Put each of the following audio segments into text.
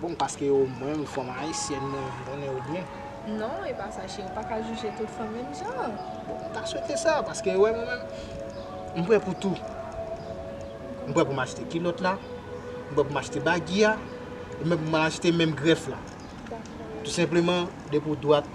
Bon paske ou menm fanm ayisyèn mwen konnen ou byen. Non e pa sa cheri ou pa ka jije tout fanm menm jan. Bon m ta swete sa paske ou wè mwen menm m prè pou tou. M prè pou m achte kilòt la, m prè pou m achte bagy a, e menm pou m al achte menm grèf la. Dakò. Tou senpleman depi ou dwat.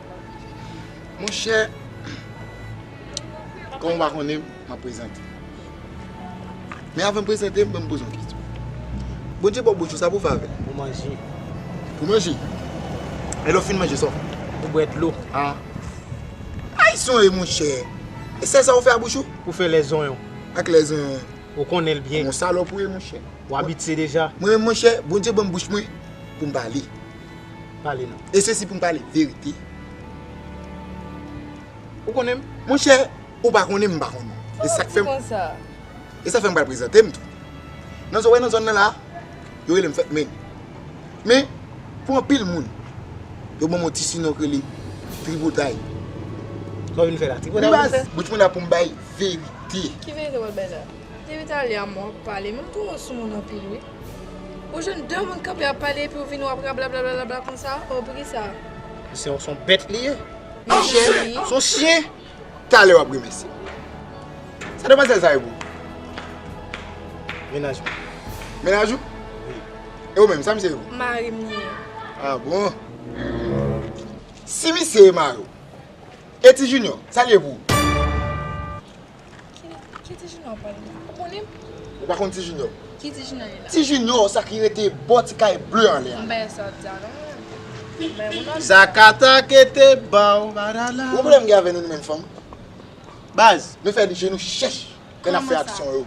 Mon chè, kòm ou pa konnen m, m ap prezante m. Men avan m prezante m, ban m poze yon kesyon. Bondye ba w bouch ou, sa pou w fè avè l? Pou manje. Pou manje? E lè w fin manje, sa w fè? Pou bwè dlo. An? Ay zonye mon chè! E sèl sa ou fè a bouch ou? Pou fè lè zonyon. Ak lè zonyon an? Ou konnen l byen. Ou yon salòp ou ye mon chè. Ou abitye deja. Mwen menm mon chè, Bondye ban m bouch mwen pou m pale. pale non. E sesi poum pale verite. Ou konnen m? Monchè, ou pa konnen m, m pa konnen ou. Sa fè m di konsa? E sa fè m pral prezante m tou. Nan zòn, ou wè nan zòn nan la, yo rele m Fèt Men. Men, pou anpil moun, yo ban m yon ti sinon k rele Tripotay. Sa w vin fè la? Tripotay w vin fè? Bouch mwen la pou m bay verite. Ki verite w pral bay la? Depi talè a mwen w ap pale, men m twò sou moun anpil wi. Ou jwenn 2 moun kanpe ap pale epi ou vini wap rablablablabla konsa oh pou kisa. Se yon son bèt li ye. Yon chien wi. Son chien. Talè wap remèsye m. Sa demwazèl sa ye pou ou? Menaj mwen. Menaj ou? Wi. E ou menm sa misye ye pou ou? Mari m li ye. Ah bon. Si misye ye mari w. E ti Junior, sa li ye pou ou? Ki ti junior wap pale la? Ou konnen? Ou pa konn ti junior? Ki ti junior ye la? Ti junior sa ki rete bò ti kay bleu an lè a. M pa gen sa wap di a non. Zakata kete baw badala. Ou gen pwoblèm gen avè nou nou menm fanm? Baz. Nou fè je nou chèch lè nap fè aksyon yo.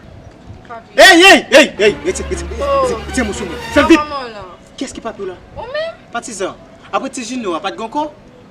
Ey ey ey ey rete rete moso mwen. Fèl vit. Kiyès ki papiw la? Ou menm. Patizan. Apre ti junior a pat gen anko?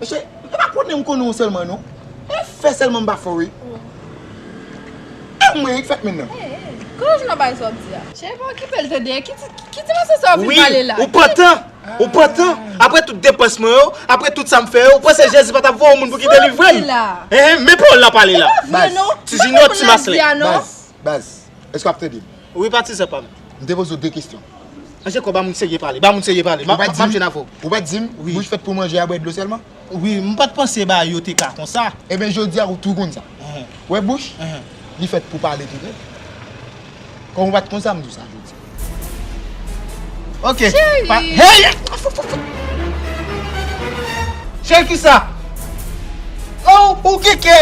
Mesye mwen pa konnen m konnen w selman non on fè selman m pa fè w wi e mwen ki fèt menn nan. Ki lòj nan bay sa wap di a. Cheri pa okipe l tande ki ti mòso sa wap vin pale la. Wi ou pantan ou pantan aprè tout depans mwen yo aprè tout sa m fè yo ou panse jezi pa tap voye yon moun pou ki delivre m. Sa wap di la. Ehh men pawòl la pale la. Se pa vre non. Ti junior ti maslin. Baz. Baz, èske w ap tande m? Wi patizan pa m. M te poze w 2 kesyon. Mesye Kò, ba moun serye pale, ba moun serye pale. M ap jwenn avè w. Ou pa t di m, bouch fèt pou manje a bwè dlo sèlman? Wi, m pa t panse bagay yo te ka konsa. Enben jodi a ou tou konn sa. Ou wè bouch, li fèt pou pale tou vrè. Kòm ou pa t konn sa, m di w sa jodi a. Ok Cheri Cheri kisa Ou gen kè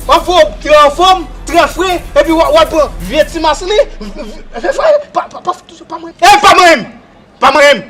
Wap fè Ou anfom Trè fre Epi wap pran Vye ti masini Vye fre Pa manyen m Pa manyen m